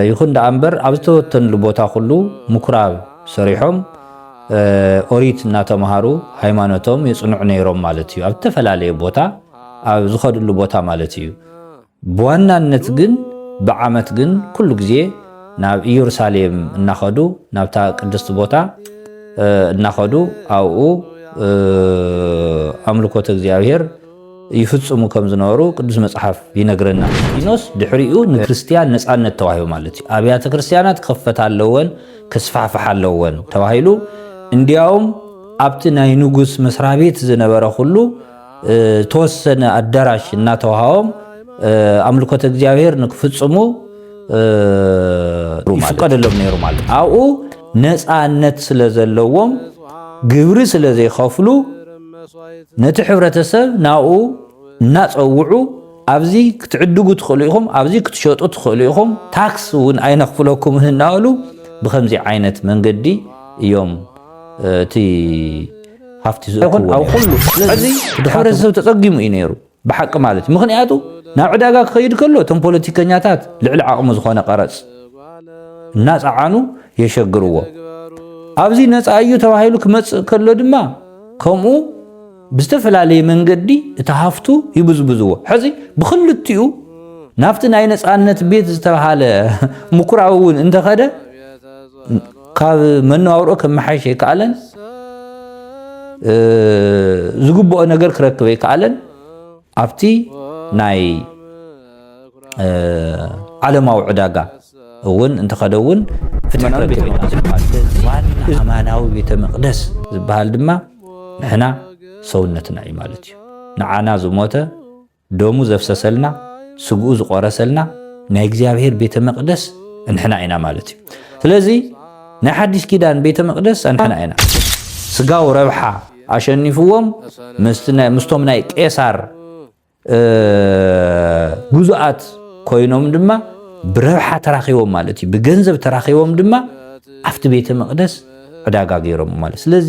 ይኹን ደኣ እምበር ኣብ ዝተበተንሉ ቦታ ኩሉ ምኩራብ ሰሪሖም ኦሪት እናተምሃሩ ሃይማኖቶም የፅንዑ ነይሮም ማለት እዩ። ኣብ ዝተፈላለየ ቦታ ኣብ ዝኸድሉ ቦታ ማለት እዩ። ብዋናነት ግን ብዓመት ግን ኩሉ ግዜ ናብ ኢየሩሳሌም እናኸዱ ናብታ ቅድስቲ ቦታ እናኸዱ ኣብኡ ኣምልኮተ እግዚኣብሔር ይፍጽሙ ከም ዝነበሩ ቅዱስ መጽሓፍ ይነግረና። ሊኖስ ድሕሪኡ ንክርስትያን ነጻነት ተዋሂቡ ማለት እዩ። ኣብያተ ክርስትያናት ክኽፈታ ኣለወን፣ ክስፋሕፍሓ ኣለወን ተባሂሉ እንዲያውም ኣብቲ ናይ ንጉስ መስሪያ ቤት ዝነበረ ኩሉ ተወሰነ ኣዳራሽ እናተዋሃቦም ኣምልኮተ እግዚኣብሔር ንክፍጽሙ ይፍቀደሎም ነይሩ ማለት ኣብኡ ነፃነት ስለ ዘለዎም ግብሪ ስለ ዘይኸፍሉ ነቲ ሕብረተሰብ ናብኡ እናጸውዑ ኣብዚ ክትዕድጉ ትኽእሉ ኢኹም፣ ኣብዚ ክትሸጡ ትኽእሉ ኢኹም፣ ታክስ እውን ኣይነኽፍለኩምን እናበሉ ብከምዚ ዓይነት መንገዲ እዮም እቲ ሃፍቲ ዝእክብዎ ነይሮም። ሕዚ እቲ ሕብረተሰብ ተጸጊሙ እዩ ነይሩ። ብሓቂ ማለት እዩ ምኽንያቱ ናብ ዕዳጋ ክኸይድ ከሎ እቶም ፖለቲከኛታት ልዕሊ ዓቕሙ ዝኾነ ቀረጽ እናጸዓኑ የሸግርዎ ኣብዚ ነፃ እዩ ተባሂሉ ክመጽእ ከሎ ድማ ከምኡ ብዝተፈላለየ መንገዲ እቲ ሃፍቱ ይብዝብዝዎ ሕዚ ብክልቲኡ ናብቲ ናይ ነፃነት ቤት ዝተብሃለ ምኩራዊ እውን እንተኸደ ካብ መነባብሮ ከመሓይሽ ኣይከኣለን፣ ዝግብኦ ነገር ክረክብ ኣይከኣለን። ኣብቲ ናይ ዓለማዊ ዕዳጋ እውን እንተኸደ እውን ፍትሒ ክረክብ ኣማናዊ ቤተ መቅደስ ዝበሃል ድማ ንሕና ሰውነትና እዩ ማለት እዩ ንዓና ዝሞተ ደሙ ዘፍሰሰልና ስግኡ ዝቆረሰልና ናይ እግዚኣብሔር ቤተ መቅደስ እንሕና ኢና ማለት እዩ ስለዚ ናይ ሓዲስ ኪዳን ቤተ መቅደስ እንሕና ኢና ስጋው ረብሓ ኣሸኒፍዎም ምስቶም ናይ ቄሳር ግዙኣት ኮይኖም ድማ ብረብሓ ተራኺቦም ማለት እዩ ብገንዘብ ተራኺቦም ድማ ኣብቲ ቤተ መቅደስ ዕዳጋ ገይሮም ማለት ስለዚ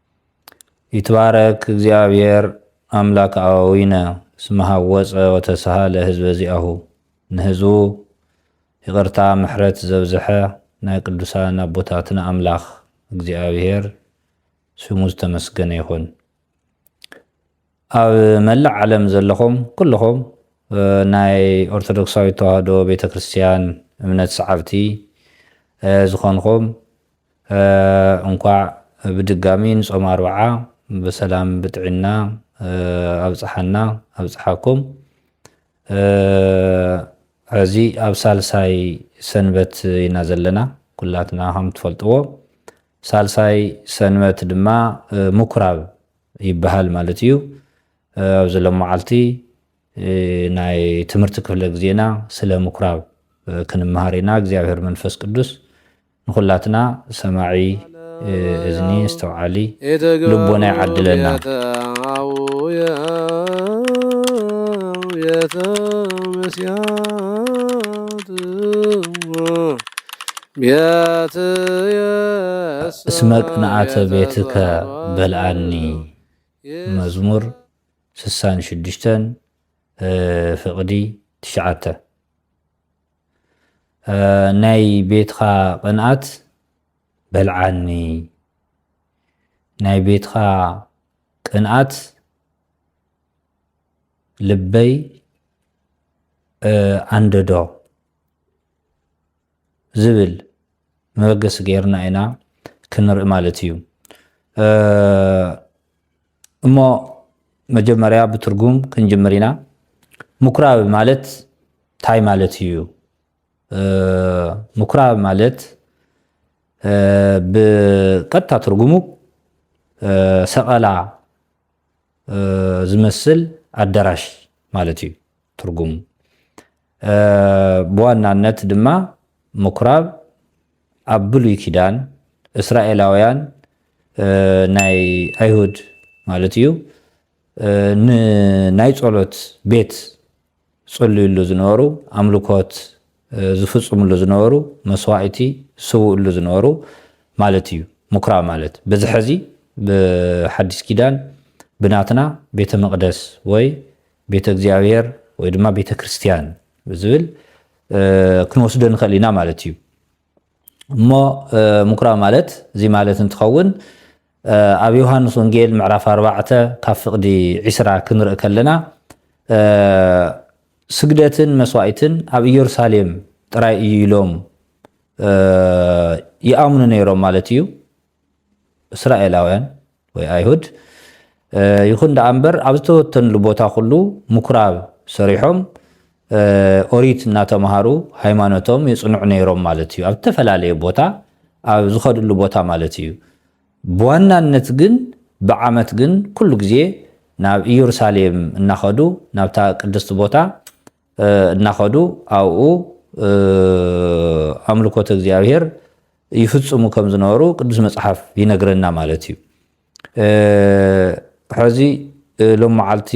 ይትባረክ እግዚኣብሔር ኣምላክ ኣበዊነ እስመ ሀወፀ ወተሰሃለ ህዝበ ዚአሁ ንህዝቡ ይቅርታ ምሕረት ዘብዝሐ ናይ ቅዱሳን ኣቦታትና ኣምላክ እግዚኣብሔር ስሙ ዝተመስገነ ይኹን። ኣብ መላእ ዓለም ዘለኹም ኩልኹም ናይ ኦርቶዶክሳዊት ተዋህዶ ቤተ ክርስቲያን እምነት ሰዓብቲ ዝኾንኹም እንኳዕ ብድጋሚ ንጾም ኣርብዓ ብሰላም ብጥዕና ኣብጽሓና ኣብጽሓኩም ሕዚ ኣብ ሳልሳይ ሰንበት ኢና ዘለና ኩላትና ከም ትፈልጥዎ ሳልሳይ ሰንበት ድማ ምኩራብ ይበሃል ማለት እዩ። ኣብዚ ሎማዓልቲ ናይ ትምህርቲ ክፍለ ግዜና ስለ ምኩራብ ክንመሃር ኢና። እግዚኣብሔር መንፈስ ቅዱስ ንኹላትና ሰማዒ እዝኒ ኣስተውዓሊ ልቦና ይዓድለና። ቤትየሰ እስመ ቅንኣተ ቤትከ በልዓኒ ቤተሰሎንቄ መዝሙር ስሳን ሽዱሽተን ፍቕዲ ትሽዓተ ናይ ቤትኻ ቅንኣት በልዓኒ ናይ ቤትኻ ቅንኣት ልበይ ኣንደዶ ዝብል መበገሲ ገይርና ኢና ክንርኢ ማለት እዩ እሞ መጀመርያ ብትርጉም ክንጅምር ኢና ምኩራብ ማለት እንታይ ማለት እዩ ምኩራብ ማለት ብቀጥታ ትርጉሙ ሰቐላ ዝመስል ኣዳራሽ ማለት እዩ ትርጉም ብዋናነት ድማ ምኩራብ ኣብ ብሉይ ኪዳን እስራኤላውያን ናይ ኣይሁድ ማለት እዩ ንናይ ጸሎት ቤት ዝጽልዩሉ ዝነበሩ ኣምልኮት ዝፍጽምሉ ዝነበሩ መስዋእቲ ዝስውእሉ ዝነበሩ ማለት እዩ ምኩራብ ማለት በዚ ሕዚ ብሓዲስ ኪዳን ብናትና ቤተ መቕደስ ወይ ቤተ እግዚኣብሔር ወይ ድማ ቤተ ክርስቲያን ብዝብል ክንወስዶ ንኽእል ኢና ማለት እዩ እሞ ምኩራብ ማለት እዚ ማለት እንትኸውን ኣብ ዮሃንስ ወንጌል ምዕራፍ ኣርባዕተ ካብ ፍቕዲ ዒስራ ክንርኢ ከለና ስግደትን መስዋእትን ኣብ ኢየሩሳሌም ጥራይ እዩ ኢሎም ይኣምኑ ነይሮም ማለት እዩ እስራኤላውያን ወይ ኣይሁድ ይኹን ደኣ እምበር ኣብ ዝተወተንሉ ቦታ ኩሉ ምኩራብ ሰሪሖም ኦሪት እናተምሃሩ ሃይማኖቶም የፅንዑ ነይሮም ማለት እዩ። ኣብ ዝተፈላለየ ቦታ ኣብ ዝኸድሉ ቦታ ማለት እዩ። ብዋናነት ግን ብዓመት ግን ኩሉ ግዜ ናብ ኢየሩሳሌም እናኸዱ ናብታ ቅድስቲ ቦታ እናኸዱ ኣብኡ ኣምልኮተ እግዚኣብሔር ይፍፅሙ ከም ዝነበሩ ቅዱስ መፅሓፍ ይነግረና ማለት እዩ። ሕዚ ሎም መዓልቲ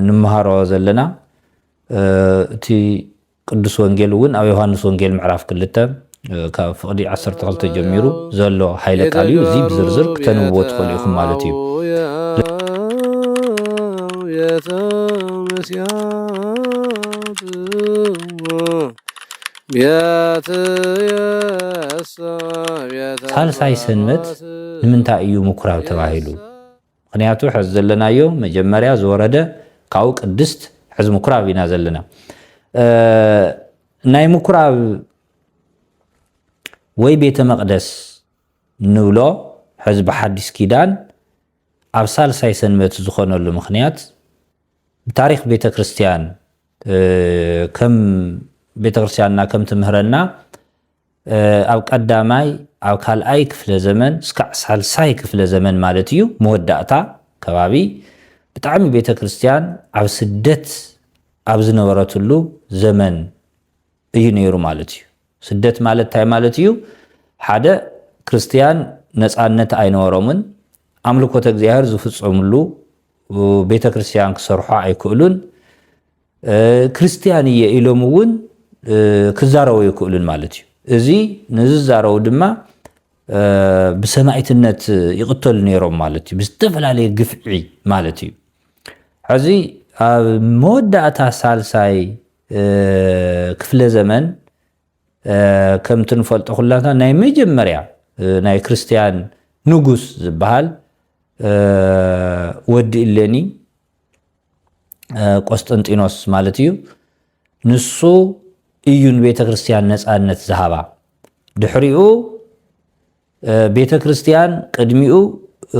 ንምሃሮ ዘለና እቲ ቅዱስ ወንጌል እውን ኣብ ዮሃንስ ወንጌል ምዕራፍ ክልተ ካብ ፍቕዲ ዓሰርተ ክልተ ጀሚሩ ዘሎ ሓይለ ቃል እዩ። እዚ ብዝርዝር ክተንብብዎ ትኽእሉ ኢኹም ማለት እዩ። ሳልሳይ ሰንበት ንምንታይ እዩ ምኵራብ ተባሂሉ? ምኽንያቱ ሐዚ ዘለናዮ መጀመርያ ዝወረደ ካብኡ ቅድስት ሐዚ ምኩራብ ኢና ዘለና ናይ ምኩራብ ወይ ቤተ መቅደስ ንብሎ ሐዚ ብሓዲስ ኪዳን ኣብ ሳልሳይ ሰንበት ዝኾነሉ ምኽንያት ብታሪክ ቤተ ክርስትያን ከም ቤተ ክርስትያንና ከም ትምህረና ኣብ ቀዳማይ፣ ኣብ ካልኣይ ክፍለ ዘመን እስካዕ ሳልሳይ ክፍለ ዘመን ማለት እዩ መወዳእታ ከባቢ ብጣዕሚ ቤተ ክርስቲያን ኣብ ስደት ኣብ ዝነበረትሉ ዘመን እዩ ነይሩ ማለት እዩ። ስደት ማለት እንታይ ማለት እዩ? ሓደ ክርስቲያን ነፃነት ኣይነበሮምን፣ ኣምልኮተ እግዚኣብሔር ዝፍፀምሉ ቤተ ክርስቲያን ክሰርሑ ኣይክእሉን፣ ክርስትያን እየ ኢሎም እውን ክዛረቡ ኣይክእሉን ማለት እዩ። እዚ ንዝዛረቡ ድማ ብሰማዒትነት ይቕተሉ ነይሮም ማለት እዩ፣ ብዝተፈላለየ ግፍዒ ማለት እዩ። ሕዚ ኣብ መወዳእታ ሳልሳይ ክፍለ ዘመን ከምቲ ንፈልጦ ኩላትና ናይ መጀመርያ ናይ ክርስትያን ንጉስ ዝበሃል ወዲ እሌኒ ቆስጠንጢኖስ ማለት እዩ ንሱ እዩ ንቤተ ክርስቲያን ነፃነት ዝሃባ ድሕሪኡ ቤተ ክርስቲያን ቅድሚኡ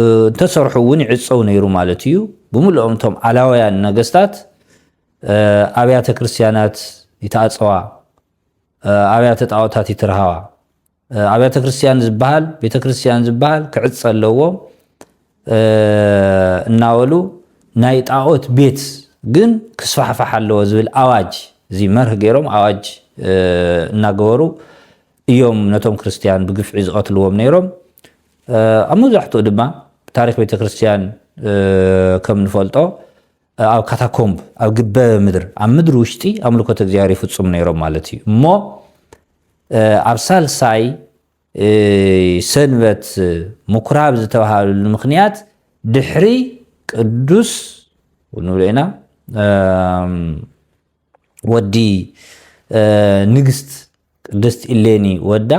እንተሰርሑ እውን ይዕፀው ነይሩ ማለት እዩ ብምልኦም እቶም ዓላውያን ነገስታት ኣብያተ ክርስቲያናት ይተኣፀዋ ኣብያተ ጣዖታት ይትርሃዋ ኣብያተ ክርስትያን ዝበሃል ቤተ ክርስትያን ዝበሃል ክዕፀ ኣለዎ እናበሉ ናይ ጣዖት ቤት ግን ክስፋሕፋሕ ኣለዎ ዝብል ኣዋጅ እዚ መርህ ገይሮም ኣዋጅ እናገበሩ እዮም ነቶም ክርስትያን ብግፍዒ ዝቐትልዎም ነይሮም። ኣብ መብዛሕትኡ ድማ ታሪክ ቤተክርስትያን ከም ንፈልጦ ኣብ ካታኮምብ ኣብ ግበ ምድር ኣብ ምድሪ ውሽጢ ኣምልኮት እግዚኣብሔር ይፍፁም ነይሮም ማለት እዩ እሞ ኣብ ሳልሳይ ሰንበት ምኩራብ ዝተባሃለሉ ምክንያት ድሕሪ ቅዱስ ንብሎ ኢና ወዲ ንግስት ቅድስት ኢሌኒ ወዳ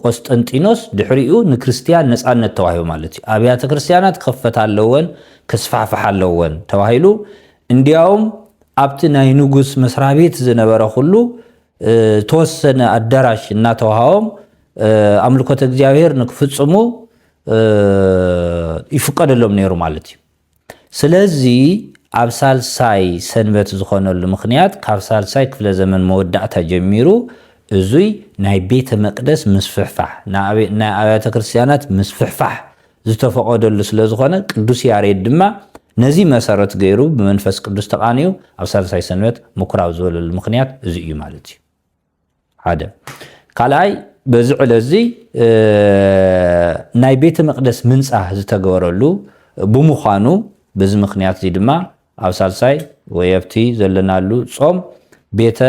ቆስጠንጢኖስ ድሕሪኡ ንክርስትያን ነፃነት ተዋሂቡ ማለት እዩ። ኣብያተ ክርስትያናት ክኽፈታ ኣለወን ከስፋሕፍሓ ኣለወን ተባሂሉ እንዲያውም ኣብቲ ናይ ንጉስ መስሪያ ቤት ዝነበረ ኩሉ ተወሰነ ኣዳራሽ እናተዋሃቦም ኣምልኮተ እግዚኣብሔር ንክፍፅሙ ይፍቀደሎም ነይሩ ማለት እዩ። ስለዚ ኣብ ሳልሳይ ሰንበት ዝኾነሉ ምኽንያት ካብ ሳልሳይ ክፍለ ዘመን መወዳእታ ጀሚሩ እዙይ ናይ ቤተ መቅደስ ምስፍሕፋሕ ናይ ኣብያተ ክርስቲያናት ምስፍሕፋሕ ዝተፈቐደሉ ስለ ዝኾነ ቅዱስ ያሬድ ድማ ነዚ መሰረት ገይሩ ብመንፈስ ቅዱስ ተቓንዩ ኣብ ሳልሳይ ሰንበት ምኩራብ ዝበለሉ ምኽንያት እዙይ እዩ ማለት እዩ። ሓደ ካልኣይ በዚ ዕለት እዚ ናይ ቤተ መቅደስ ምንጻህ ዝተገበረሉ ብምዃኑ በዚ ምክንያት እዚ ድማ ኣብ ሳልሳይ ወይ ኣብቲ ዘለናሉ ጾም ቤተ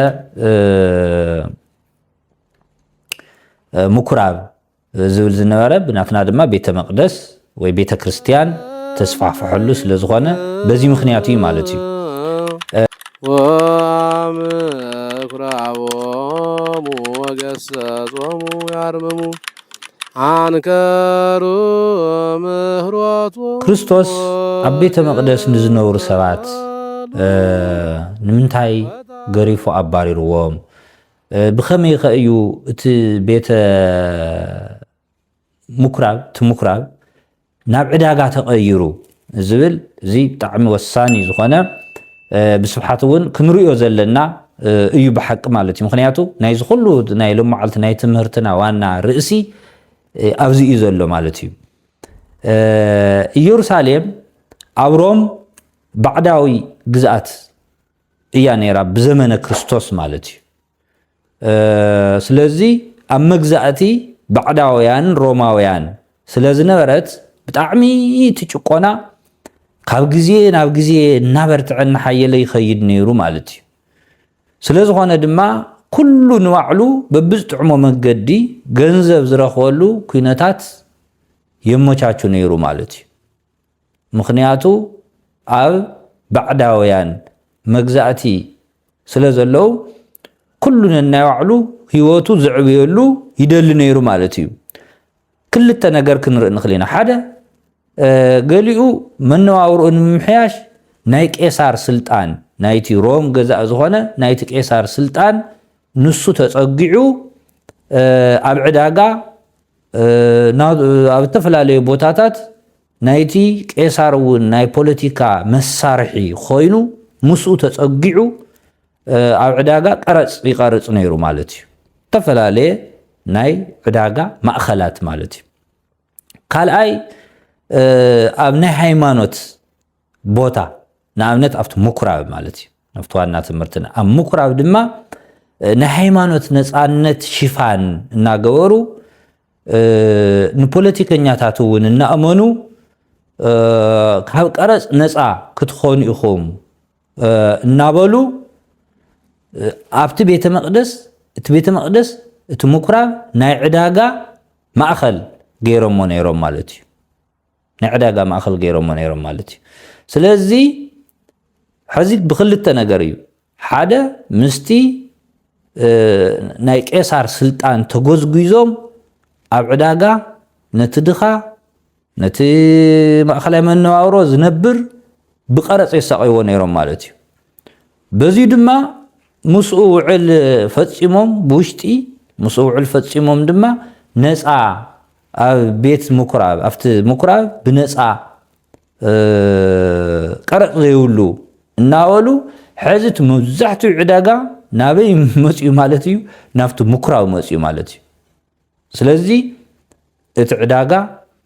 ምኩራብ ዝብል ዝነበረ ብናትና ድማ ቤተ መቅደስ ወይ ቤተ ክርስትያን ተስፋሕፍሐሉ ስለ ዝኾነ በዚ ምክንያት እዩ ማለት እዩ። ወምኩራቦሙ ወገሰጾሙ ያርምሙ ኣንከሩ ምህሮቱ ክርስቶስ ኣብ ቤተ መቅደስ ንዝነብሩ ሰባት ንምንታይ ገሪፉ ኣባሪርዎም ብኸመይኸ እዩ እቲ ቤተ ምኵራብ እቲ ምኵራብ ናብ ዕዳጋ ተቐይሩ ዝብል እዚ ብጣዕሚ ወሳኒ ዝኾነ ብስብሓት እውን ክንሪኦ ዘለና እዩ ብሓቂ ማለት እዩ ምክንያቱ ናይዚ ኩሉ ናይ ሎማዓልቲ ናይ ትምህርትና ዋና ርእሲ ኣብዚ እዩ ዘሎ ማለት እዩ ኢየሩሳሌም ኣብ ሮም ባዕዳዊ ግዝኣት እያ ነይራ ብዘመነ ክርስቶስ ማለት እዩ ስለዚ ኣብ መግዛእቲ ባዕዳውያን ሮማውያን ስለ ዝነበረት ብጣዕሚ እቲ ጭቆና ካብ ግዜ ናብ ግዜ እናበርትዐ እናሓየለ ይኸይድ ነይሩ ማለት እዩ ስለ ዝኾነ ድማ ኩሉ ንባዕሉ በብዝጥዕሞ መንገዲ ገንዘብ ዝረኽበሉ ኩነታት የመቻቹ ነይሩ ማለት እዩ ምኽንያቱ ኣብ ባዕዳውያን መግዛእቲ ስለ ዘለዉ ኩሉ ነናይ ባዕሉ ህይወቱ ዘዕብየሉ ይደሊ ነይሩ ማለት እዩ። ክልተ ነገር ክንርኢ ንኽእል ኢና። ሓደ ገሊኡ መነባብርኡ ንምምሕያሽ ናይ ቄሳር ስልጣን ናይቲ ሮም ገዛእ ዝኾነ ናይቲ ቄሳር ስልጣን ንሱ ተጸጊዑ ኣብ ዕዳጋ ኣብ እተፈላለዩ ቦታታት ናይቲ ቄሳር እውን ናይ ፖለቲካ መሳርሒ ኮይኑ ምስኡ ተጸጊዑ ኣብ ዕዳጋ ቀረጽ ይቐርጽ ነይሩ ማለት እዩ። እተፈላለየ ናይ ዕዳጋ ማእኸላት ማለት እዩ። ካልኣይ ኣብ ናይ ሃይማኖት ቦታ ንኣብነት ኣብቲ ምኩራብ ማለት እዩ። ናብቲ ዋና ትምህርትና ኣብ ምኩራብ ድማ ናይ ሃይማኖት ነፃነት ሽፋን እናገበሩ ንፖለቲከኛታት እውን እናእመኑ ካብ ቀረፅ ነፃ ክትኾኑ ኢኹም እናበሉ ኣብቲ ቤተ መቅደስ እቲ ቤተ መቅደስ እቲ ምኩራብ ናይ ዕዳጋ ማእኸል ገይሮሞ ነይሮም ማለት እዩ። ናይ ዕዳጋ ማእኸል ገይሮሞ ነይሮም ማለት እዩ። ስለዚ ሕዚ ብክልተ ነገር እዩ፣ ሓደ ምስቲ ናይ ቄሳር ስልጣን ተጎዝጒዞም ኣብ ዕዳጋ ነቲ ድኻ ነቲ ማእኸላይ መነባብሮ ዝነብር ብቀረፅ የሳቀይዎ ነይሮም ማለት እዩ በዚ ድማ ምስኡ ውዕል ፈፂሞም ብውሽጢ ምስኡ ውዕል ፈፂሞም ድማ ነፃ ኣብ ቤት ምኩራብ ኣብቲ ምኩራብ ብነጻ ቀረጽ ዘይብሉ እናበሉ ሕዚ እቲ መብዛሕትኡ ዕዳጋ ናበይ መጽኡ ማለት እዩ ናብቲ ምኩራብ መጽኡ ማለት እዩ ስለዚ እቲ ዕዳጋ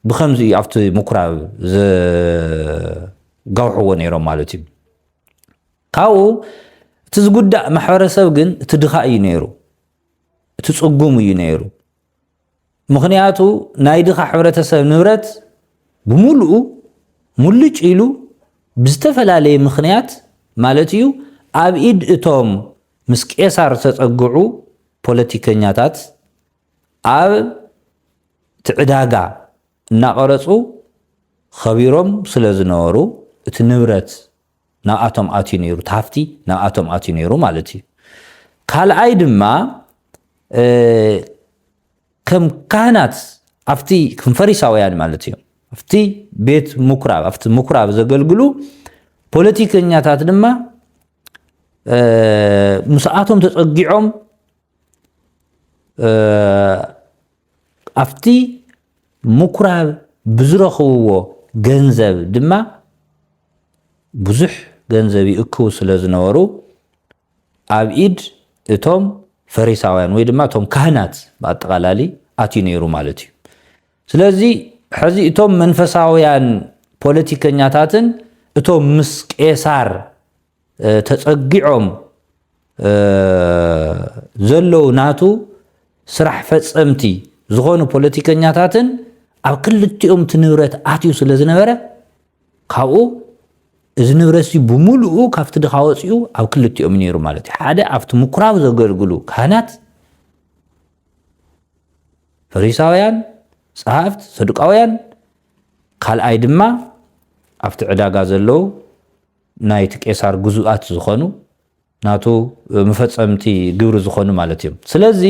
ብከምዚ እዩ ኣብቲ ምኩራብ ዘጋውሕዎ ነይሮም ማለት እዩ ካብኡ እቲ ዝጉዳእ ማሕበረሰብ ግን እቲ ድኻ እዩ ነይሩ እቲ ጽጉም እዩ ነይሩ ምኽንያቱ ናይ ድኻ ሕብረተሰብ ንብረት ብምሉኡ ሙልጭ ኢሉ ብዝተፈላለየ ምኽንያት ማለት እዩ ኣብ ኢድ እቶም ምስ ቄሳር ዝተጸግዑ ፖለቲከኛታት ኣብ እቲ ዕዳጋ እናቐረጹ ኸቢሮም ስለዝነበሩ እቲ ንብረት ናብኣቶም ኣትዩ ነይሩ እቲ ሃፍቲ ናብኣቶም ኣትዩ ነይሩ ማለት እዩ ካልኣይ ድማ ከም ካህናት ኣብቲ ከም ፈሪሳውያን ማለት እዩ ኣብቲ ቤት ምኩራብ ኣብቲ ምኩራብ ዘገልግሉ ፖለቲከኛታት ድማ ምስኣቶም ተፀጊዖም ኣብቲ ምኩራብ ብዝረኽብዎ ገንዘብ ድማ ብዙሕ ገንዘብ ይእክቡ ስለ ዝነበሩ ኣብ ኢድ እቶም ፈሪሳውያን ወይ ድማ እቶም ካህናት ብኣጠቓላሊ ኣትዩ ነይሩ ማለት እዩ። ስለዚ ሕዚ እቶም መንፈሳውያን ፖለቲከኛታትን እቶም ምስ ቄሳር ተጸጊዖም ዘለዉ ናቱ ስራሕ ፈጸምቲ ዝኾኑ ፖለቲከኛታትን ኣብ ክልቲኦም እቲ ንብረት ኣትዩ ስለ ዝነበረ ካብኡ እዚ ንብረት እዚ ብምሉኡ ካብቲ ድኻ ወፂኡ ኣብ ክልቲኦም ነይሩ ማለት እዩ ሓደ ኣብቲ ምኩራብ ዘገልግሉ ካህናት ፈሪሳውያን ጸሃፍት ሰዱቃውያን ካልኣይ ድማ ኣብቲ ዕዳጋ ዘለዉ ናይቲ ቄሳር ግዙኣት ዝኾኑ ናቱ መፈጸምቲ ግብሪ ዝኾኑ ማለት እዮም። ስለዚ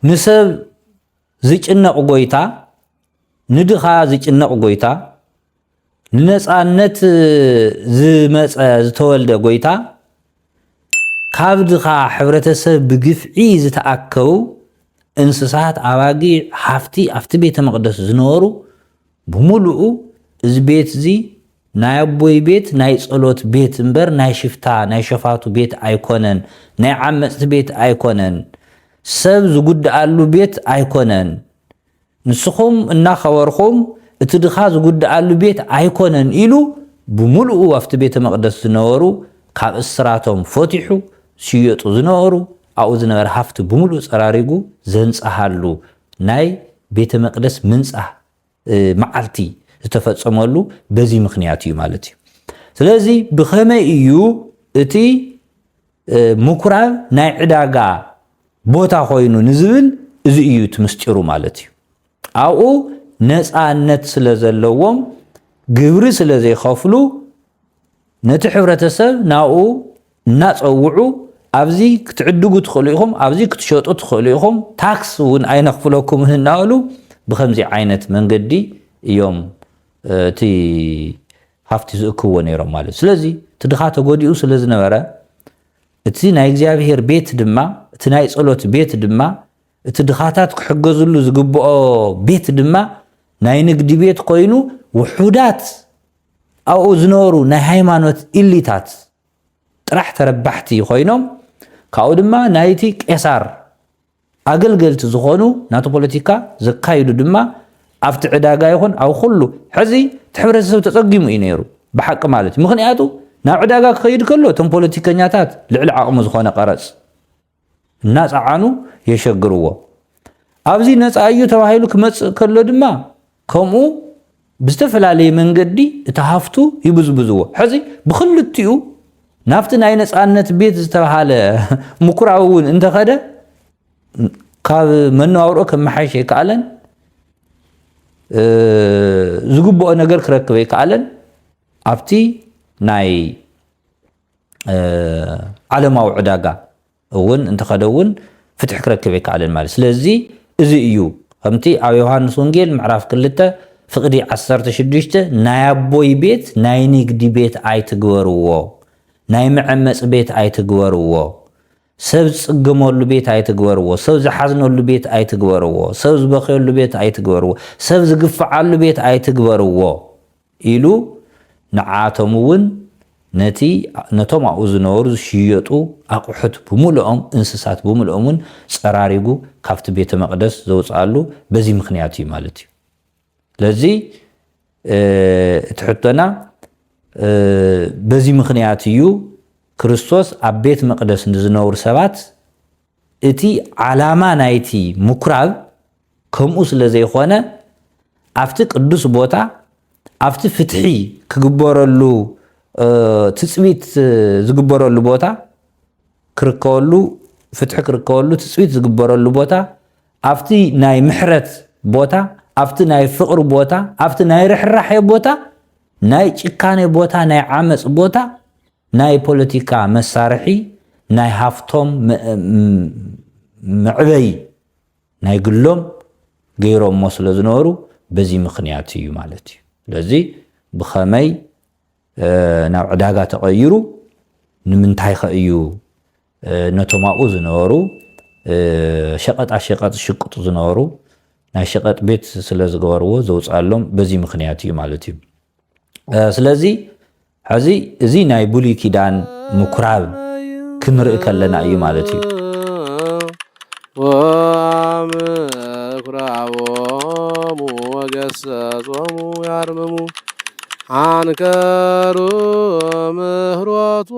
ንሰብ ዝጭነቕ ጎይታ፣ ንድኻ ዝጭነቕ ጎይታ፣ ንነጻነት ዝመጸ ዝተወልደ ጎይታ ካብ ድኻ ሕብረተሰብ ብግፍዒ ዝተኣከቡ እንስሳት ኣባጊዕ ሃፍቲ ኣብቲ ቤተ መቕደስ ዝነበሩ ብምሉኡ እዚ ቤት እዚ ናይ ኣቦይ ቤት ናይ ጸሎት ቤት እምበር ናይ ሽፍታ ናይ ሸፋቱ ቤት ኣይኮነን ናይ ዓመጽቲ ቤት ኣይኮነን ሰብ ዝጉድኣሉ ቤት ኣይኮነን ንስኹም እናኸበርኹም እቲ ድኻ ዝጉድኣሉ ቤት ኣይኮነን ኢሉ ብምሉኡ ኣብቲ ቤተ መቕደስ ዝነበሩ ካብ እስራቶም ፈቲሑ ዝሽየጡ ዝነበሩ ኣብኡ ዝነበረ ሃፍቲ ብምሉኡ ፀራሪጉ ዘንፀሃሉ ናይ ቤተ መቅደስ ምንፃህ መዓልቲ ዝተፈፀመሉ በዚ ምኽንያት እዩ ማለት እዩ። ስለዚ ብኸመይ እዩ እቲ ምኩራብ ናይ ዕዳጋ ቦታ ኮይኑ ንዝብል እዚ እዩ እቲ ምስጢሩ ማለት እዩ። ኣብኡ ነፃነት ስለ ዘለዎም ግብሪ ስለ ዘይኸፍሉ ነቲ ሕብረተሰብ ናብኡ እናፀውዑ ኣብዚ ክትዕድጉ ትኽእሉ ኢኹም፣ ኣብዚ ክትሸጡ ትኽእሉ ኢኹም፣ ታክስ እውን ኣይነኽፍለኩምን እናበሉ ብከምዚ ዓይነት መንገዲ እዮም እቲ ሃፍቲ ዝእክብዎ ነይሮም ማለት እዩ። ስለዚ እቲ ድኻ ተጎዲኡ ስለ ዝነበረ እቲ ናይ እግዚኣብሄር ቤት ድማ እቲ ናይ ጸሎት ቤት ድማ እቲ ድኻታት ክሕገዝሉ ዝግብኦ ቤት ድማ ናይ ንግዲ ቤት ኮይኑ ውሑዳት ኣብኡ ዝነበሩ ናይ ሃይማኖት ኢሊታት ጥራሕ ተረባሕቲ ኮይኖም ካብኡ ድማ ናይቲ ቄሳር ኣገልገልቲ ዝኾኑ ናቱ ፖለቲካ ዘካይዱ ድማ ኣብቲ ዕዳጋ ይኹን ኣብ ኩሉ ሕዚ እቲ ሕብረተሰብ ተፀጊሙ እዩ ነይሩ ብሓቂ ማለት እዩ ምኽንያቱ ናብ ዕዳጋ ክኸይድ ከሎ እቶም ፖለቲከኛታት ልዕሊ ዓቕሙ ዝኾነ ቀረፅ እናፀዓኑ የሸግርዎ ኣብዚ ነፃ እዩ ተባሂሉ ክመፅእ ከሎ ድማ ከምኡ ብዝተፈላለየ መንገዲ እቲ ሃፍቱ ይብዝብዝዎ። ሕዚ ብኽልቲኡ ናብቲ ናይ ነፃነት ቤት ዝተብሃለ ምኩራብ እውን እንተኸደ ካብ መነባብሮ ከመሓይሽ ኣይከኣለን፣ ዝግብኦ ነገር ክረክብ ኣይከኣለን። ኣብቲ ናይ ዓለማዊ ዕዳጋ እውን እንተኸደ እውን ፍትሒ ክረክብ ኣይከኣለን ማለት ስለዚ እዚ እዩ ከምቲ ኣብ ዮሃንስ ወንጌል ምዕራፍ ክልተ ፍቅዲ ዓሰርተ ሽዱሽተ ናይ ኣቦይ ቤት ናይ ንግዲ ቤት ኣይትግበርዎ ናይ መዐመፅ ቤት ኣይትግበርዎ ሰብ ዝፅገመሉ ቤት ኣይትግበርዎ ሰብ ዝሓዝነሉ ቤት ኣይትግበርዎ ሰብ ዝበኸየሉ ቤት ኣይትግበርዎ ሰብ ዝግፍዓሉ ቤት ኣይትግበርዎ ኢሉ ንዓኣቶም እውን ነቲ ነቶም ኣብኡ ዝነበሩ ዝሽየጡ ኣቑሑት ብምሉኦም እንስሳት ብምሉኦም እውን ፀራሪጉ ካብቲ ቤተ መቕደስ ዘውፀኣሉ በዚ ምኽንያት እዩ ማለት እዩ። ስለዚ እቲ ሕቶና በዚ ምኽንያት እዩ ክርስቶስ ኣብ ቤት መቕደስ ንዝነብሩ ሰባት እቲ ዓላማ ናይቲ ምኩራብ ከምኡ ስለ ዘይኾነ ኣብቲ ቅዱስ ቦታ ኣብቲ ፍትሒ ክግበረሉ ትፅቢት ዝግበረሉ ቦታ ክርከበሉ ፍትሒ ክርከበሉ ትፅቢት ዝግበረሉ ቦታ ኣብቲ ናይ ምሕረት ቦታ ኣብቲ ናይ ፍቕሪ ቦታ ኣብቲ ናይ ርሕራሐ ቦታ ናይ ጭካኔ ቦታ ናይ ዓመፅ ቦታ ናይ ፖለቲካ መሳርሒ ናይ ሃፍቶም መዕበይ ናይ ግሎም ገይሮሞ ስለ ዝነበሩ በዚ ምኽንያት እዩ ማለት እዩ። ስለዚ ብኸመይ ናብ ዕዳጋ ተቐይሩ ንምንታይኸ እዩ ነቶም ኣብኡ ዝነበሩ ሸቐጣ ሸቐጥ ዝሽቅጡ ዝነበሩ ናይ ሸቐጥ ቤት ስለ ዝገበርዎ ዘውፅኣሎም በዚ ምኽንያት እዩ ማለት እዩ። ስለዚ ሐዚ እዚ ናይ ብሉይ ኪዳን ምኩራብ ክንርኢ ከለና እዩ ማለት እዩ። ወአምኩራቦሙ ወገሰጾሙ ያርምሙ አንከሩ ምህሮቱ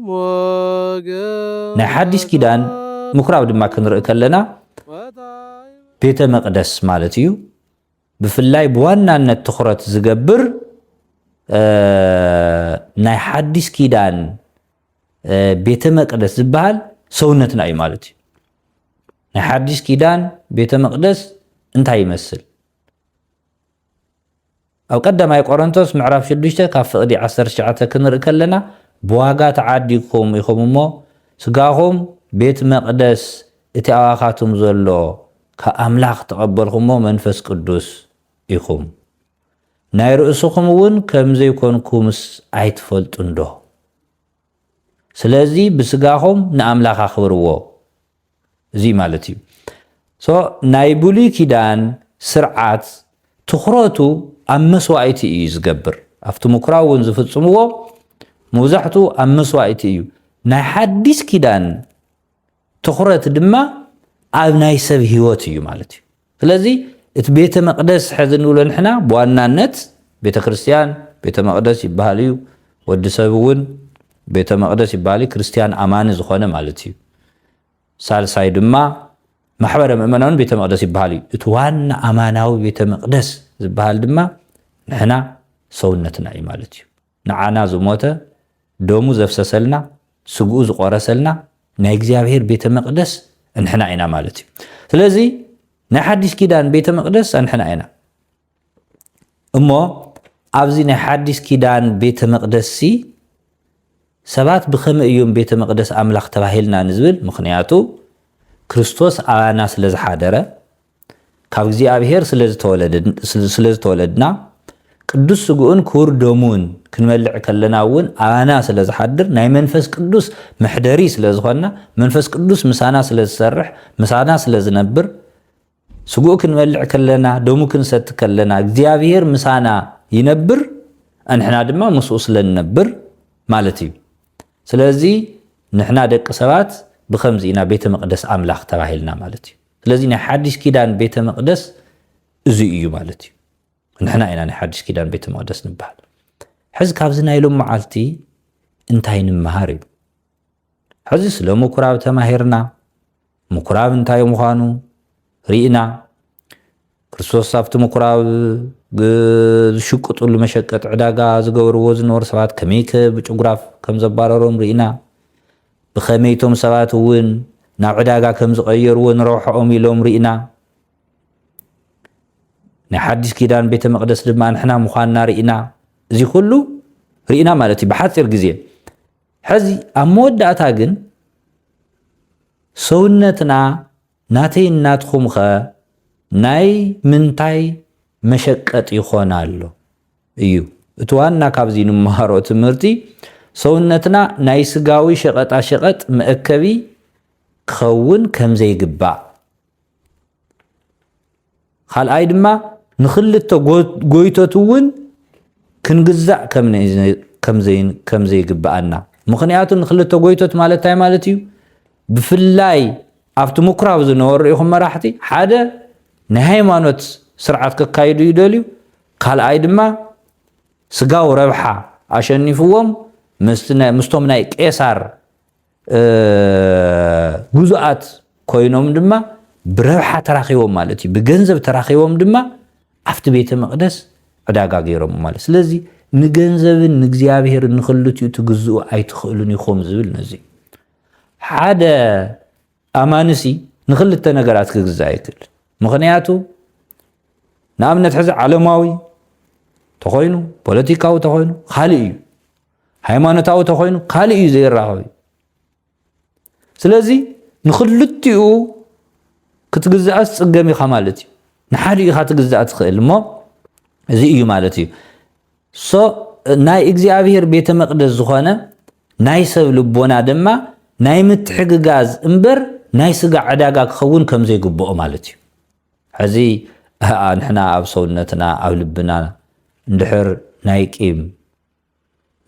ሞገ ናይ ሓዲስ ኪዳን ምኩራብ ድማ ክንርኢ ከለና ቤተ መቅደስ ማለት እዩ። ብፍላይ ብዋናነት ትኹረት ዝገብር ናይ ሓዲስ ኪዳን ቤተ መቅደስ ዝበሃል ሰውነትና እዩ ማለት እዩ። ናይ ሓዲስ ኪዳን ቤተ መቅደስ እንታይ ይመስል? ኣብ ቀዳማይ ቆሮንቶስ ምዕራፍ 6 ካብ ፍቕዲ 19 ክንርኢ ከለና ብዋጋ ተዓዲግኩም ኢኹም እሞ ስጋኹም ቤት መቅደስ እቲ ኣባኻቱም ዘሎ ካብ ኣምላኽ እተቐበልኹሞ መንፈስ ቅዱስ ኢኹም። ናይ ርእስኹም እውን ከም ዘይኮንኩምስ ኣይትፈልጡንዶ? ስለዚ ብስጋኹም ንኣምላኽ ኣኽብርዎ። እዚ ማለት እዩ። So ናይ ብሉይ ኪዳን ስርዓት ትኹረቱ ኣብ መስዋኢቲ እዩ ዝገብር። ኣብቲ ምኩራብ እውን ዝፍጽምዎ ሙብዛሕትኡ ኣብ መስዋኢቲ እዩ። ናይ ሓዲስ ኪዳን ትኹረት ድማ ኣብ ናይ ሰብ ህይወት እዩ ማለት እዩ። ስለዚ እቲ ቤተ መቅደስ ሕዚ እንብሎ ንሕና ብዋናነት ቤተ ክርስቲያን ቤተ መቅደስ ይበሃል እዩ። ወዲ ሰብ እውን ቤተ መቅደስ ይበሃል እዩ፣ ክርስቲያን ኣማኒ ዝኾነ ማለት እዩ። ሳልሳይ ድማ ማሕበረ ምእመናን ቤተ መቅደስ ይበሃል እዩ። እቲ ዋና ኣማናዊ ቤተ መቅደስ ዝበሃል ድማ ንሕና ሰውነትና እዩ ማለት እዩ። ንዓና ዝሞተ፣ ደሙ ዘፍሰሰልና፣ ስግኡ ዝቆረሰልና ናይ እግዚኣብሔር ቤተ መቅደስ እንሕና ኢና ማለት እዩ። ስለዚ ናይ ሓዲስ ኪዳን ቤተ መቅደስ ኣንሕና ኢና። እሞ ኣብዚ ናይ ሓዲስ ኪዳን ቤተ መቅደስሲ ሰባት ብከመይ እዮም ቤተ መቅደስ ኣምላኽ ተባሂልና ንዝብል ምክንያቱ ክርስቶስ ኣባና ስለ ዝሓደረ ካብ እግዚኣብሔር ስለዝተወለድና ቅዱስ ስግኡን ክቡር ደሙን ክንበልዕ ከለና እውን ኣባና ስለዝሓድር ናይ መንፈስ ቅዱስ መሕደሪ ስለዝኾንና መንፈስ ቅዱስ ምሳና ስለዝሰርሕ ምሳና ስለዝነብር ስግኡ ክንበልዕ ከለና ደሙ ክንሰቲ ከለና እግዚኣብሔር ምሳና ይነብር ንሕና ድማ ምስኡ ስለንነብር ማለት እዩ ስለዚ ንሕና ደቂ ሰባት ብከምዚ ኢና ቤተ መቅደስ ኣምላኽ ተባሂልና ማለት እዩ ስለዚ ናይ ሓዲሽ ኪዳን ቤተ መቅደስ እዙይ እዩ ማለት እዩ ንሕና ኢና ናይ ሓዲሽ ኪዳን ቤተ መቅደስ ንበሃል ሕዚ ካብዚ ናይ ሎም መዓልቲ እንታይ ንምሃር እዩ ሕዚ ስለ ምኩራብ ተማሂርና ምኩራብ እንታይ ምዃኑ ርኢና ክርስቶስ ኣብቲ ምኵራብ ዝሽቅጡሉ መሸቀጢ ዕዳጋ ዝገበርዎ ዝነበሩ ሰባት ከመይከ ብጭጉራፍ ከም ዘባረሮም ርኢና። ብኸመይ እቶም ሰባት እውን ናብ ዕዳጋ ከም ዝቐየርዎ ንረብሓኦም ኢሎም ርኢና። ናይ ሓዲስ ኪዳን ቤተ መቕደስ ድማ ንሕና ምዃንና ርኢና። እዚ ኩሉ ርኢና ማለት እዩ ብሓፂር ግዜ። ሕዚ ኣብ መወዳእታ ግን ሰውነትና ናተይን ናትኩም ከ ናይ ምንታይ መሸቀጥ ይኮን ኣሎ እዩ እቲ ዋና ካብዚ ንመሃሮ ትምህርቲ ሰውነትና ናይ ስጋዊ ሸቀጣ ሸቀጥ መእከቢ ክከውን ከምዘይግባእ ኻልኣይ ድማ ንኽልተ ጎይቶት እውን ክንግዛእ ከም ዘይግብኣና። ምኽንያቱ ንኽልተ ጎይቶት ማለት እንታይ ማለት እዩ? ብፍላይ ኣብቲ ምኩራብ ዝነበሩ ርኢኹም መራሕቲ ሓደ ናይ ሃይማኖት ስርዓት ከካይዱ ይደልዩ፣ ካልኣይ ድማ ስጋው ረብሓ ኣሸኒፍዎም ምስቶም ናይ ቄሳር ግዙኣት ኮይኖም ድማ ብረብሓ ተራኺቦም ማለት እዩ። ብገንዘብ ተራኺቦም ድማ ኣብቲ ቤተ መቕደስ ዕዳጋ ገይሮም ማለት ስለዚ ንገንዘብን ንእግዚኣብሄርን ንክልቲኡ ትግዝኡ ኣይትኽእሉን ኢኹም ዝብል ነዚ ሓደ ኣማንሲ ንክልተ ነገራት ክግዛእ ይክእል ምክንያቱ ንኣብነት ሕዚ ዓለማዊ ተኾይኑ ፖለቲካዊ ተኾይኑ ካልእ እዩ ሃይማኖታዊ ተኮይኑ ካልእ እዩ ዘይራኸብ እዩ ስለዚ ንክልቲኡ ክትግዛእስ ፅገም ኢኻ ማለት እዩ ንሓደ ኢኻ ትግዛእ ትኽእል እሞ እዚ እዩ ማለት እዩ ሶ ናይ እግዚኣብሄር ቤተ መቅደስ ዝኾነ ናይ ሰብ ልቦና ድማ ናይ ምትሕግጋዝ እምበር ናይ ስጋ ዕዳጋ ክኸውን ከም ዘይግብኦ ማለት እዩ ሕዚ ንሕና ኣብ ሰውነትና ኣብ ልብና እንድሕር ናይ ቂም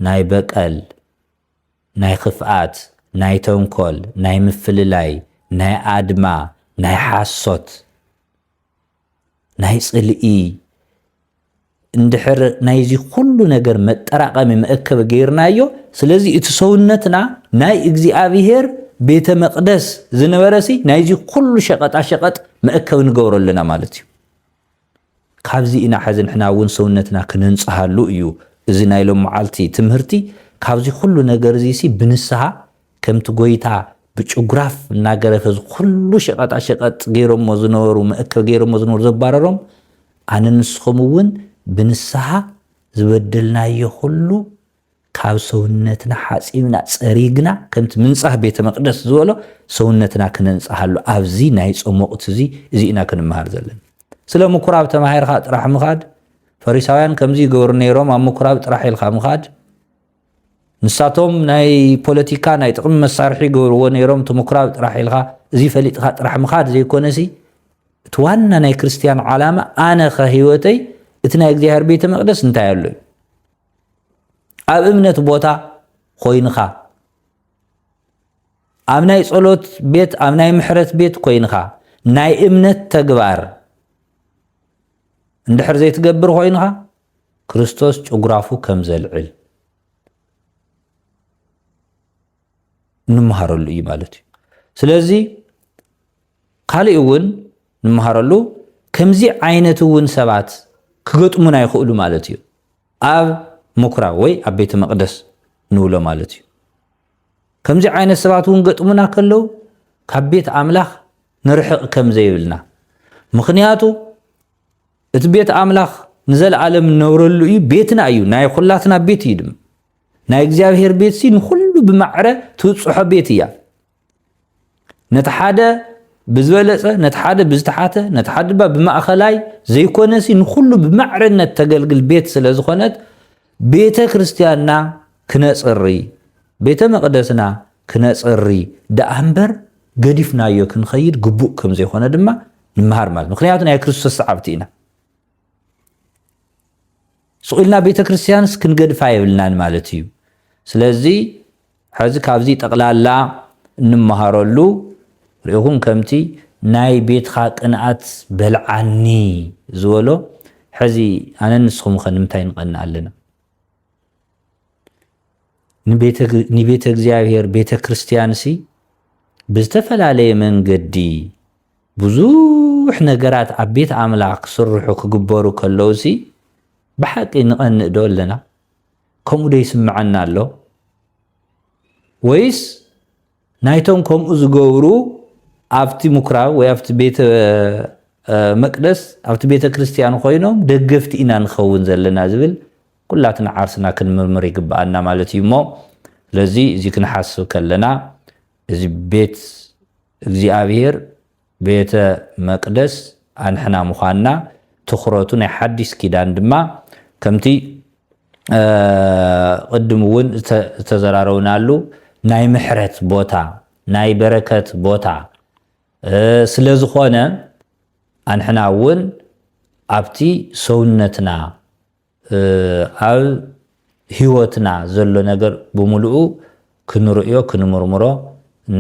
ናይ በቀል፣ ናይ ኽፍኣት፣ ናይ ተንኮል፣ ናይ ምፍልላይ፣ ናይ ኣድማ፣ ናይ ሓሶት፣ ናይ ጽልኢ እንድሕር ናይዚ ኹሉ ነገር መጠራቐሚ መእከቢ ገይርናዮ ስለዚ እቲ ሰውነትና ናይ እግዚኣብሔር ቤተ መቅደስ ዝነበረሲ ናይዚ ኹሉ ሸቀጣ ሸቀጥ መእከቢ ንገብሮ ኣለና ማለት እዩ። ካብዚ ኢና ሐዚ ንሕና እውን ሰውነትና ክነንፅሃሉ እዩ እዚ ናይ ሎምዓልቲ ትምህርቲ ካብዚ ኩሉ ነገር እዙይ ሲ ብንስሃ ከምቲ ጎይታ ብጭጉራፍ እናገረፈ እዚ ኩሉ ሸቀጣ ሸቀጥ ገይሮሞ ዝነበሩ መእከቢ ገይሮሞ ዝነበሩ ዘባረሮም ኣነ ንስኹም እውን ብንስሃ ዝበደልናዮ ኩሉ ካብ ሰውነትና ሓጺብና ጸሪግና ከምቲ ምንጻህ ቤተ መቅደስ ዝበሎ ሰውነትና ክነንጽሃሉ ኣብዚ ናይ ጾም ወቅቲ እዚ እዚ ኢና ክንመሃር ዘለና። ስለ ምኩራብ ተማሂርካ ጥራሕ ምኻድ ፈሪሳውያን ከምዚ ይገብሩ ነይሮም ኣብ ምኩራብ ጥራሕ ኢልካ ምኻድ ንሳቶም ናይ ፖለቲካ ናይ ጥቅሚ መሳርሒ ይገብርዎ ነይሮም እቲ ምኩራብ ጥራሕ ኢልካ እዚ ፈሊጥካ ጥራሕ ምኻድ ዘይኮነሲ እቲ ዋና ናይ ክርስትያን ዓላማ ኣነ ከ ህይወተይ እቲ ናይ እግዚኣብሔር ቤተ መቅደስ እንታይ ኣሎ እዩ ኣብ እምነት ቦታ ኮይንኻ ኣብ ናይ ጸሎት ቤት ኣብ ናይ ምሕረት ቤት ኮይንኻ ናይ እምነት ተግባር እንድሕር ዘይትገብር ኮይንኻ ክርስቶስ ጭጉራፉ ከም ዘልዕል እንመሃረሉ እዩ ማለት እዩ ስለዚ ካሊእ እውን ንመሃረሉ ከምዚ ዓይነት እውን ሰባት ክገጥሙና ይኽእሉ ማለት እዩ ኣብ ሙኩራብ ወይ ኣብ ቤተ መቅደስ ንብሎ ማለት እዩ ከምዚ ዓይነት ሰባት እውን ገጥሙና ከለው ካብ ቤት ኣምላኽ ንርሕቅ ከም ዘይብልና ምክንያቱ እቲ ቤት ኣምላኽ ንዘለዓለም ንነብረሉ እዩ ቤትና እዩ ናይ ኩላትና ቤት እዩ ድማ ናይ እግዚኣብሔር ቤት ሲ ንኩሉ ብማዕረ ትብፅሖ ቤት እያ ነቲ ሓደ ብዝበለፀ ነቲ ሓደ ብዝተሓተ ነቲ ሓደ ድማ ብማእኸላይ ዘይኮነሲ ንኩሉ ብማዕርነት ተገልግል ቤት ስለ ዝኾነት ቤተ ክርስቲያንና ክነፅሪ ቤተ መቕደስና ክነፅሪ ደኣ እምበር ገዲፍናዮ ክንኸይድ ግቡእ ከም ዘይኮነ ድማ ንመሃር ማለት ምክንያቱ ናይ ክርስቶስ ሰዓብቲ ኢና ስቑልና ቤተ ክርስቲያንስ ክንገድፋ የብልናን ማለት እዩ ስለዚ ሐዚ ካብዚ ጠቅላላ እንመሃረሉ ሪኢኹም ከምቲ ናይ ቤትኻ ቅንኣት በልዓኒ ዝበሎ ሐዚ ኣነን ንስኹምኸ ንምንታይ ንቀንእ ኣለና? ንቤተ እግዚኣብሔር ቤተ ክርስቲያንሲ ብዝተፈላለየ መንገዲ ብዙሕ ነገራት ኣብ ቤት ኣምላኽ ክስርሑ ክግበሩ ከለውሲ ብሓቂ ንቀንእ ዶ ኣለና? ከምኡ ዶ ይስምዐና ኣሎ ወይስ ናይቶም ከምኡ ዝገብሩ ኣብቲ ምኩራብ ወይ ኣብቲ ቤተ መቅደስ ኣብቲ ቤተ ክርስቲያን ኮይኖም ደገፍቲ ኢና ንኸውን ዘለና ዝብል ኩላትና ዓርስና ክንምርምር ይግብኣና ማለት እዩ እሞ ስለዚ እዚ ክንሓስብ ከለና እዚ ቤት እግዚኣብሄር ቤተ መቅደስ ኣንሕና ምዃንና ትኹረቱ ናይ ሓዲስ ኪዳን ድማ ከምቲ ቅድም እውን ዝተዘራረብናሉ ናይ ምሕረት ቦታ ናይ በረከት ቦታ ስለ ዝኾነ ኣንሕና እውን ኣብቲ ሰውነትና ኣብ ህይወትና ዘሎ ነገር ብምሉኡ ክንርእዮ፣ ክንምርምሮ፣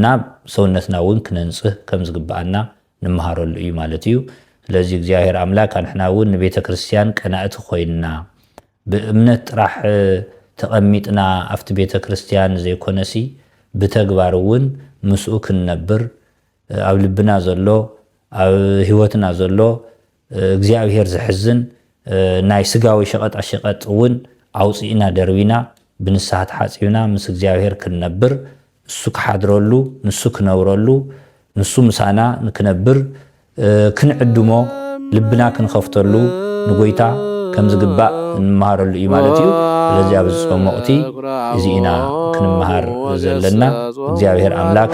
ናብ ሰውነትና እውን ክነንጽህ ከም ዝግብኣና ንመሃረሉ እዩ ማለት እዩ። ስለዚ እግዚኣብሔር ኣምላክ ኣንሕና እውን ንቤተ ክርስቲያን ቀናእቲ ኮይንና ብእምነት ጥራሕ ተቐሚጥና ኣብቲ ቤተ ክርስቲያን ዘይኮነሲ ብተግባር እውን ምስኡ ክንነብር ኣብ ልብና ዘሎ ኣብ ህይወትና ዘሎ እግዚኣብሔር ዘሕዝን ናይ ስጋዊ ሸቀጣ ሸቀጥ እውን ኣውፂእና ደርቢና ብንስሃ ተሓፂብና ምስ እግዚኣብሔር ክንነብር እሱ ክሓድረሉ ንሱ ክነብረሉ ንሱ ምሳና ንክነብር ክንዕድሞ ልብና ክንኸፍተሉ ንጎይታ ከምዝግባእ እንመሃረሉ እዩ ማለት እዩ ስለዚ ኣብዚ ፆም ወቅቲ እዚ ኢና ክንመሃር ዘለና እግዚኣብሔር ኣምላክ